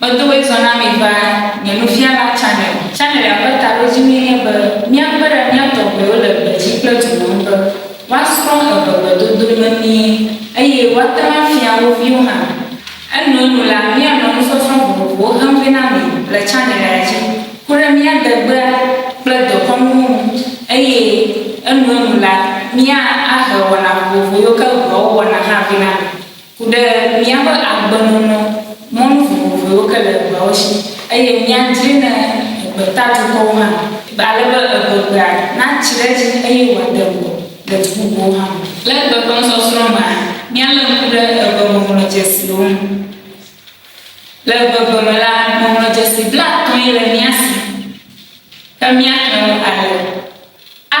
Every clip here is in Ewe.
Medo ɣli zɔ na mi va nye Nufiala Channel. Channelia ƒe taɖodzinue nye be míakpe ɖe mía tɔgbuiwo le gbedzi kple dukɔ ŋu be woasrɔ̃ evevedodo memie eye woate ŋu afia wo viwo hã. Enuenu la, míanɔ nusɔsrɔ̃ vovovowo xem vɛ na mi le channelia dzi ku ɖe mía degbea kple dekɔnuwo ŋu eye enuenu la, mía ahe wɔna vovovo yiwo ke ŋua wowɔna hã vɛ na mi. Ku ɖe míaƒe agbenɔnɔ mɔnu vovovoewo ke le egbeawo shi, eye míadzree ne egbeta dukɔwo hã, ale be egbegbeae natsi ɖe edzi eye wòade ŋgɔ le du bubuwo hã me. Le egbe ƒe nusɔsrɔ̃ mea, míalé ŋku ɖe egbeŋɔŋlɔdzesiwo ŋu. Le egbegbe me la, ŋɔŋlɔdzesi blaatɔ̃ ye le mía si, ke míaxlẽ wo ale, a.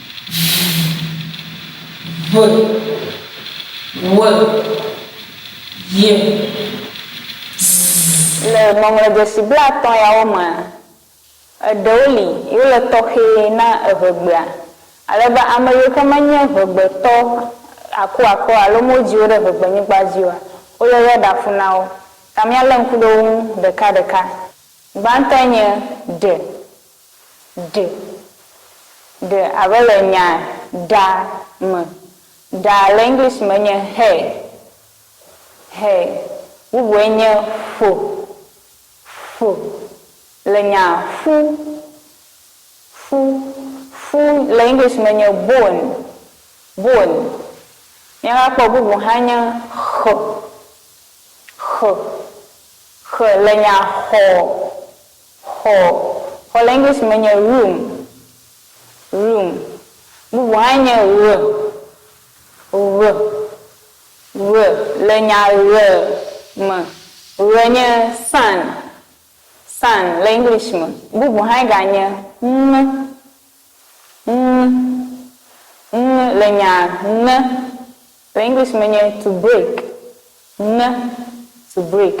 Le ŋɔŋlɔdzesi blaatɔ̃ yawo mea, eɖewo li yiwo le tɔxɛ na eŋegbea, ale be ame yiwo ke menye ŋegbetɔ akuakuawo alo modi wo ɖe ŋegbenyigba dzi oa, woyɔyɔ ɖa ƒu na wo. Ta míalé ŋku ɖe wo ŋu ɖekaɖeka. Gbãtɔe nye ɖe. Ɖe, ɖe abe le nya ɖa me. Ɖa le English me nye hair, hair. Bubue nye ƒo, ƒo. Le nya ƒu, ƒu, ƒu le English me nye bone, bone. Míava kpɔ bubu hã nye xe, xe, xe le nya xɔ. Xɔ, xɔ le English me nye room, room. Bubu hãe nye ɣe, ɣe, ɣe. Le nya ɣe me, ɣe nye sun, sun le English me. Bubu hãe ganye ŋe, ŋe, ŋe le nya ŋe Le English me nye to break, ŋe, to break.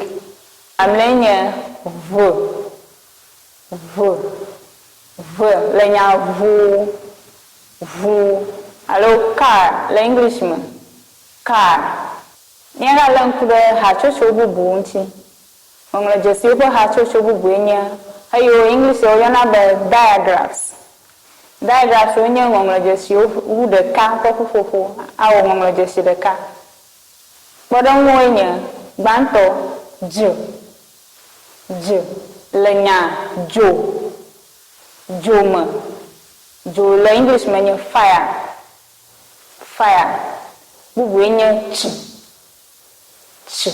Mamlɛe nye ŋe, ŋe, ŋe. Le nya ŋu, ŋu alo car le English me, car. Míagalé ŋku ɖe hatsotso bubu ŋuti. Ŋɔŋlɔdzesiwo ƒe hatsotso bubue nye eyiwo Englishitɔwo yɔna be diagraphs. Diagraphswo nye ŋɔŋlɔdzesiwo wu ɖeka ƒe ƒuƒoƒo awɔ ŋɔŋlɔdzesi ɖeka. Kpɔɖeŋuwoe nye, gbãtɔ, dz, dz le nya dzo, dzo me, dzo le English me nye fire, fire, bubue nye tsi. Tsi.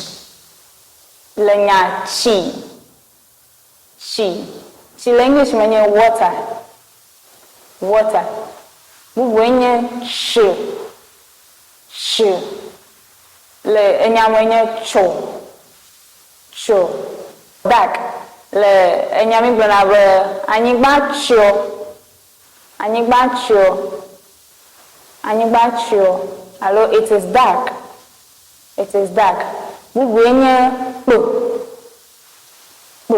Le nya tsi, tsi, tsi le English me nye water, water. Bubue nye tso, tso. Le enya me nye tso, tso. Dark le enya mi gblɔna be anyigba tsɔ. Anyigba tsyɔ, Anyigba tsyɔ, alo It is dark, It is dark. Bubue nye kpo, kpo.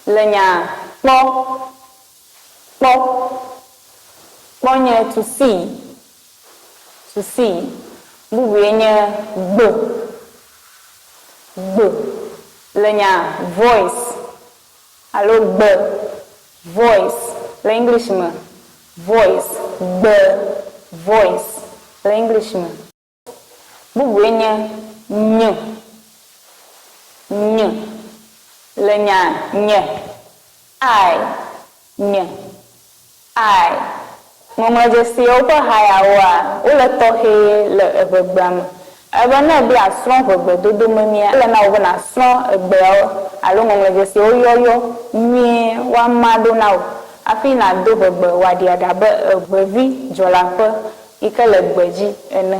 Le nya kpɔ, kpɔ. Kpɔ nye to see, to see. Bubue nye gbo, gbo. Le nya voice, Alo gbe, voice, le English me, voice, gbe, voice, le English me. Bubue nye ny, ny, le nya, nye, I, Nye. I. Ŋɔŋlɔdzesiawo ƒe hayawoa, wole tɔxɛ le eŋegbea me. Ele be ne èbe yeasrɔ̃ ŋegbedodo memia, ele na wò be nàsrɔ̃ egbeawo alo ŋɔŋlɔdzesiawo yɔyɔ nyuie woama ɖo na wò hafi nàdo ŋegbe wòaɖi aɖe abe eŋevi dzɔleaƒe yi ke le gbe dzi ene.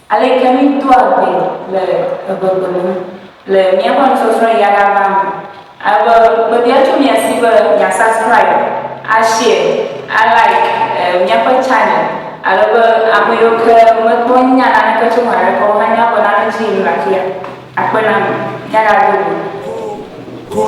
Aleke míedoa gbe le egbegbe ŋu le míaƒe nusɔsrɔ̃ ɣi aɖaʋa me? Ele be mebiã tso mia si be mia subscribe, a share, a like míaƒe channel ale be ame yiwo ke mekpɔ nya naneke tso eme haɖe ke o hã nyabe nane dzi yim le afia. Akpe na mi. Míaɖado go.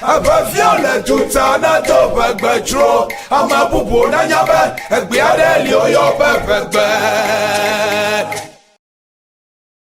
Aʋafiã le duta nado ʋegbe dzro, ame bubuwo nanya be egbe aɖe li woyɔ be ʋegbe.